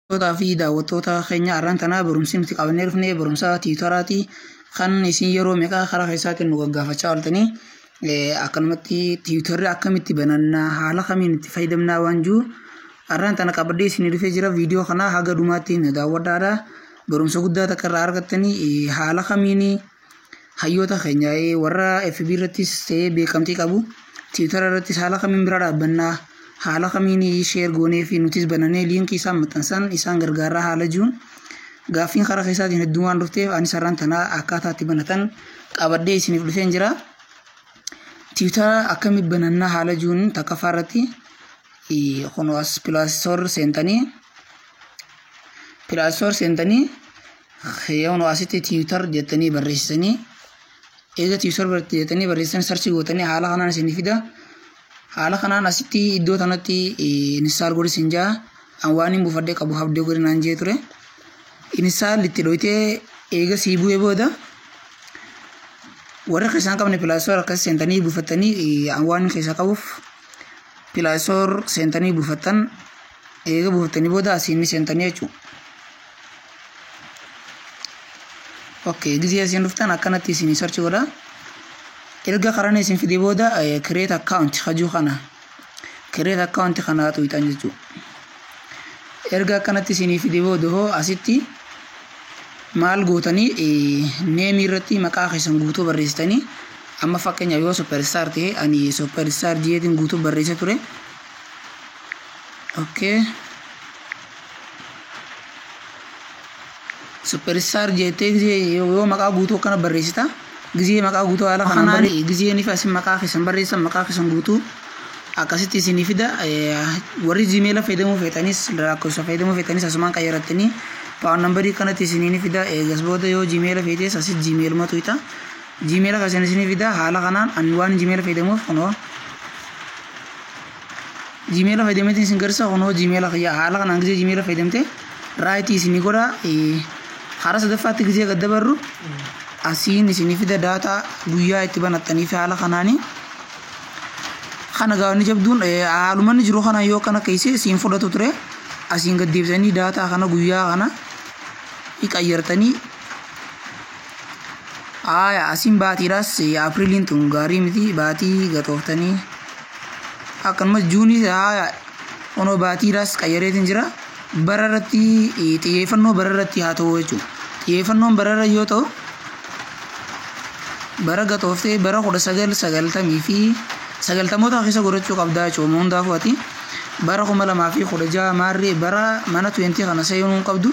Hordoftoota fi daawwattoota keenya arran tanaa barumsi nuti qabannee dhufne barumsa tiwutaraati kan isin yeroo meeqaa karaa keessaatiin nu gaggaafachaa ooltanii akkanumatti tiwutarri akkamitti banannaa haala kamiin itti fayyadamnaa waan jiru arran tana qabadhee isin dhufee jira viidiyoo kana haga dhumaatti na daawwadhaadha barumsa guddaa takka irraa argattanii haala kamiin hayyoota keenya warra FB irrattis ta'ee beekamtii qabu tiwutara irrattis haala kamiin bira dhaabbannaa haala kamiin sheer goonee fi nutis bananee liinkii isaan maxxansan isaan gargaaraa haala jiruun gaaffiin karaa keessaatiin hedduu waan dhufteef anis har'aan tanaa akkaataa itti banatan qabadhee isiniif dhufeen jira. Tiwutara akkamitti banannaa haala jiruun takkaffaa irratti kun as pilaastoor seentanii pilaastoor seentanii Yoonu asitti tiwiitar jettanii barreessanii eega tiwiitar jettanii barreessan sarchi gootanii haala kanaan isin fida. Haala kanaan asitti iddoo tanatti inistaal godhi isin jaa. An waan hin buufadhee qabu habdee godhi naan jee ture. Inistaal itti dhoytee eega sii bu'ee booda warra keessaan qabne pilaastoor akkas seentanii buufattanii an waan keessa qabuuf pilaastoor seentanii buufattan eega buufattanii booda asiin ni seentanii jechuudha. Okay, gizee isin dhuftan akkanatti isin search godha. Erga karan isin fide booda eh, create account hajuu kana. Create account kana tuqxan jechuudha. Erga akkanatti isin fide booda hoo asitti maal gootanii eh, neemii irratti maqaa keessan guutuu barreessitanii amma fakkeenyaaf yoo superstar ta'e ani superstar jedheen guutuu barreessee ture. Okay. Superistaar jeettee gizee yoo maqaa guutuu akkana barreessita gizee maqaa guutuu haala kanaan barreessi gizeen ifa isin maqaa keessan barreessan maqaa keessan guutuu akkasitti isinii fida warri jiimeela fayyadamuu feetanis lakkoofsa fayyadamuu feetanis asumaan qayyarattanii paawun nambarii kanatti isinii ni fida eegas booda yoo jiimeela feetes asis jiimeeluma tuyita jiimeela keessan isinii fida haala kanaan ani waan jiimeela fayyadamuuf kunoo Gmail fayyadameetiin isin garsiisa kunoo Gmail kiyya haala kanaan gizee Gmail fayyadamte raayitii isinii godha karaa sadaffaatti gizee gad dabarru asiin isinii fida daataa guyyaa itti banattanii fi haala kanaanii kana gaafni jabduun haalumanni jiru kana yoo kana keessee siin fudhatu ture asiin gad deebisanii daataa kana guyyaa kana qayyartanii Aaya asiin baatiidhaas Apriliin tun gaarii miti baatii gatooftanii akkanumas juunii aaya onoo baatiidhaas qayyareetiin jira bara irratti xiyyeeffannoo bara irratti haa ta'u jechuudha. Xiyyeeffannoon bara irra yoo ta'u bara gatooftee bara kudha sagal sagaltamii fi sagaltamoota keessa godhachuu qabdaa jechuudha hundaafuu ati bara kuma lamaa fi kudha jaha maarree bara mana 20 kana seenuu hin qabdu.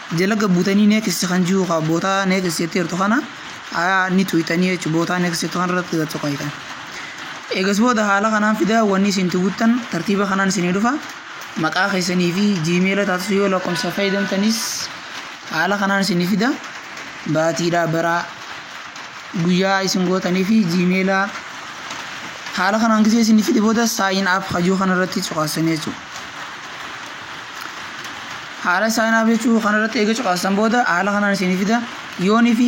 Jalaga butani next kan jiru ka bota next jette jirtu kana aya ni tuytani jechu bota next jettu kana irratti gad tuqaytan. Egas booda haala kanaan fida wanni isin itti guttan tartiiba kanaan isinii dhufa maqaa keessanii fi gmaila taatu yoo lakkomsa fayyadamtanis haala kanaan isinii fida baatiidha baraa guyyaa isin gootanii fi gmaila haala kanaan gisee isinii fide booda sign up hajuu kana irratti cuqaasanii jechuudha. Haala sign up jechuu kana irratti eega cuqaastan booda haala kanaan isinii fida. Yoonii fi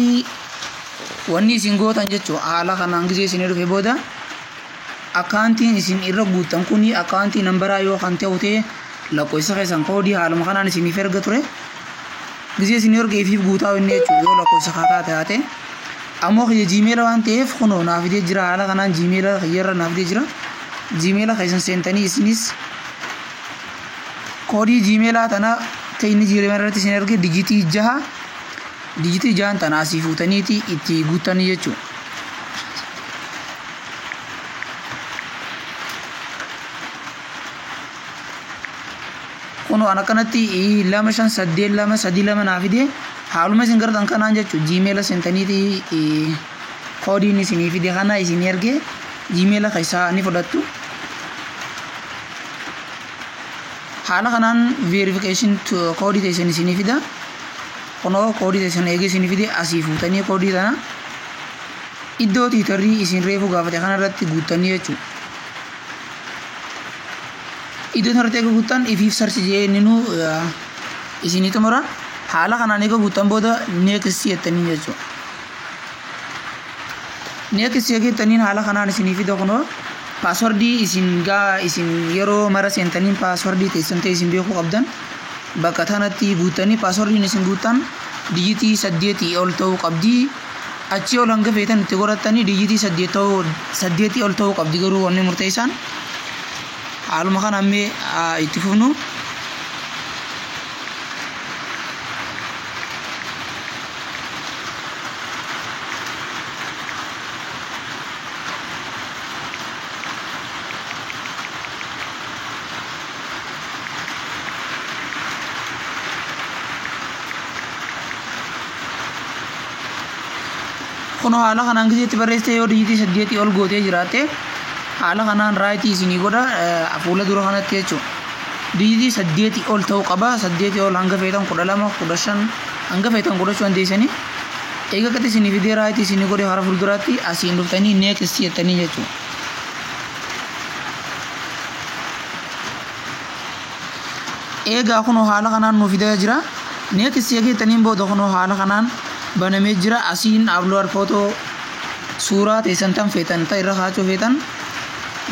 wanni isin gootan jechuu haala kanaan gizee isinii dhufe booda akkaantiin isin irra guuttan kuni akkaantii nambaraa yoo kan ta'u ta'e lakkoofsa keessan koodii haaluma kanaan isiniif erga ture. Gizee isinii erga ifiif guutaa inni jechuu yoo lakkoofsa kaa taate haate. Ammoo kiyya jiimeela waan ta'eef kunoo naa fidee jira haala kanaan jiimeela kiyyarra naa fidee jira. Jiimeela keessan seentanii isinis Koodii jiimeelaa tana ta inni jiimeela irratti isin erge dijitii jaha dijitii jahan tana asii fuutaniiti itti guuttanii jechuudha. Kunoo an akkanatti lama shan saddeet lama sadii lama naa fide haaluma isin gartan kanaan jechuudha jiimeela seentaniiti koodiin isinii fide kana isinii erge jiimeela keessaa ni fudhattu. Haala kanaan verification koodii teessan isinii fida. Kunoo koodii teessan eegee isinii fide asii fuutanii koodii tana iddoo tiitarrii isin reefuu gaafate kanarratti guuttanii jechuudha. Iddoo kanarratti eega guuttan ifiif sarchi jee inni nu isinii xumura. Haala kanaan eega guuttan booda next jettanii jechuudha. Next seegeettaniin haala kanaan isinii fida kunoo paaswardii isin gaa isin yeroo mara seentaniin paaswardii teessan ta'e isin beekuu qabdan bakka tanatti guuttanii paaswardiin isin guuttan dijitii saddeetii ol ta'uu qabdi achii ol hanga feetan itti godhattanii dijitii saddeet ta'uu saddeetii ol ta'uu qabdi garuu wanni murteessaan haaluma kana ammee aa, itti fufnu Kunoo haala kanaan gizeetti barreessitee yoo dijitii saddeetii ol gootee jiraatte haala kanaan raayitii isinii godha eh, fuula dura kanatti jechuudha. Dijitii saddeetii ol ta'uu qaba. Saddeetii ol hanga feetan kudha lama, kudha shan, Hanga feetan godhachuu dandeessanii eega qixi isinii fidee raayiti isinii godhe hara fulduraatti asiin dhuftanii next jettanii jechuudha. Eegaa kunoo haala kanaan nuu fidaa jira. Next eega jettaniin booda kunoo haala kanaan banamee jira. Asiin upload photo suuraa teessan tan feetan ta irra kaachuu feetan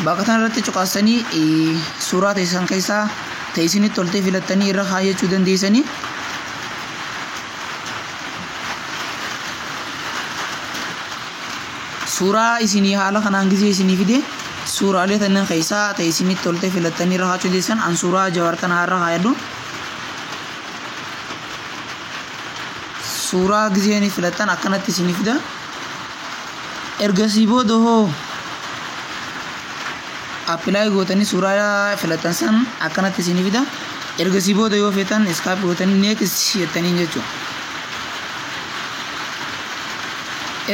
bakka tan irratti cuqaastanii suuraa teessan keessaa ta isinitti toltee filattanii irra kaayachuu dandeessanii. suuraa isinii haala kanaan gisee isinii fide suuraalee tannan keessaa ta'e isinitti toltee filattanii irra kaachuu deessan an suuraa jawaar kana irra kaayadhu suuraa gisee ni filattan akkanatti isinii fida ergasii booda hoo apply gootanii suuraa filattan san akkanatti isinii fida ergasii booda yoo feetan iskaap gootanii next jettaniin jechuudha.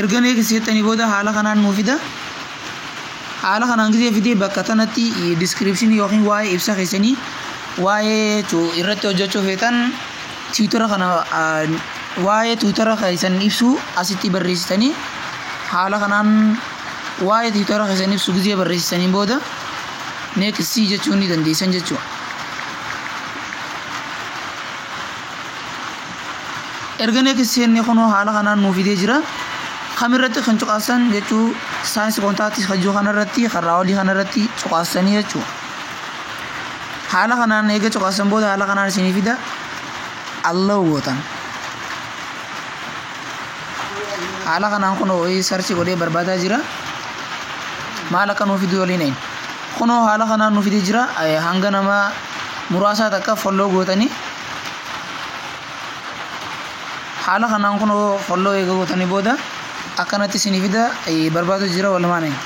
erga next jettanii booda haala kanaan nuu fida haala kanaan gisee fidee bakka tanatti description yookiin waa'ee ibsa keessanii waa'ee tu- irratti hojjechuu feetan tiwutara kana ah, waa'ee tiwutara keessan ibsu asitti barreessitanii haala kanaan waa'ee tiwutara keessan ibsu gizee barreessisaniin booda next jechuu ni dandeessan jechuudha. Erga next jennee kunoo haala kanaan nuu fidee jira. Kam irratti kan cuqaasan jechuu saayinsii kontaaktii hajjuu kanarratti karraa olii kanarratti cuqaasanii jechuudha. Haala kanaan eega cuqaasan booda haala kanaan isinii fida. Allow gootan. haala kanaan kunoo wayii sarchi godhee barbaadaa jira maal akka nuu fiduu waliin hin kunoo haala kanaan nuu fidee jira Eh, hanga nama muraasaa takka folloo gootanii haala kanaan kunoo folloo eega gootanii booda akkanatti isinii fida eh, barbaadu jira walumaan hin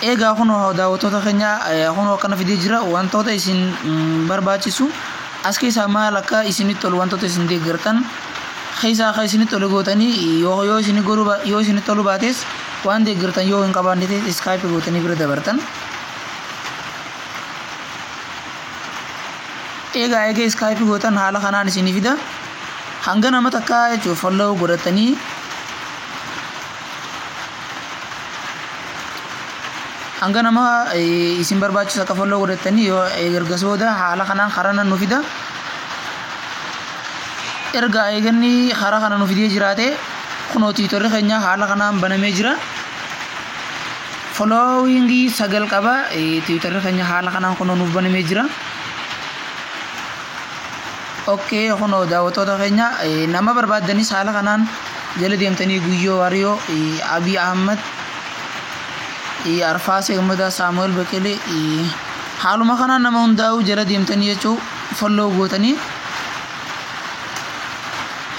Eegaa kunoo daawwattoota keenya kunoo akkana fidee jira wantoota isin barbaachisu as keessaa maal akka isinitti tolu wantoota isin deeggartan keessaa akka isinitti tolu gootanii yoo yoo isin godhu yoo isinitti tolu baates waan deeggartan yoo hin qabaanne ta'e iskaayipi gootanii bira dabartan. Eegaa eega iskaayipi gootan haala kanaan isinii fida hanga nama takkaa jechuun folloo godhatanii hanga nama isin barbaachisa akka folloo godhattanii yoo ergas booda haala kanaan karana nu fida erga eeganni karaa kana nu fidee jiraate kunoo tiitorri keenya haala kanaan banamee jira followingii sagal qaba tiitorri keenya haala kanaan kunoo nuuf banamee jira. Ok kunoo daawwattoota keenya nama barbaaddanis haala kanaan jala deemtanii Guyyoo Waariyoo, Abiy Ahmed, Arfaasee Gammadaa, Saamu'eel Beqelee haaluma kanaan nama hundaa'uu jala deemtanii jechuu folloo gootanii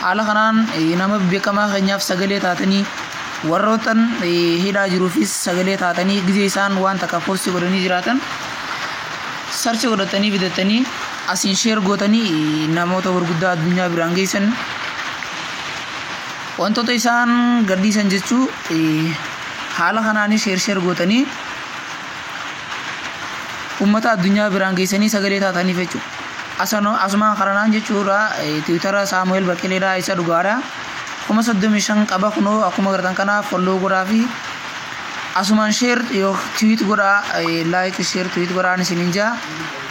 haala kanaan nama beekamaa keenyaaf sagalee taatanii warrootan hidhaa jiruufis sagalee taatanii gizee isaan waan takka poostii godhanii jiraatan sarchi godhatanii bitatanii Asiin share gootanii namoota gurguddaa addunyaa biraan geessan wantoota isaan gadhiisan jechuu haala kanaanis share share gootanii ummata addunyaa biraan geessanii sagalee taataniif jechuudha. Asano asumaan karanaan jechuudha tiwitara Saamu'eel Baqqeleedhaa isa dhugaadha. Kuma soddomii shan qaba kunoo akkuma gartan kana folloo godhaa fi asumaan share yoo tiwit godhaa like share tiwit godhaan isiniin jaa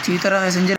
tiwitara keessan jira.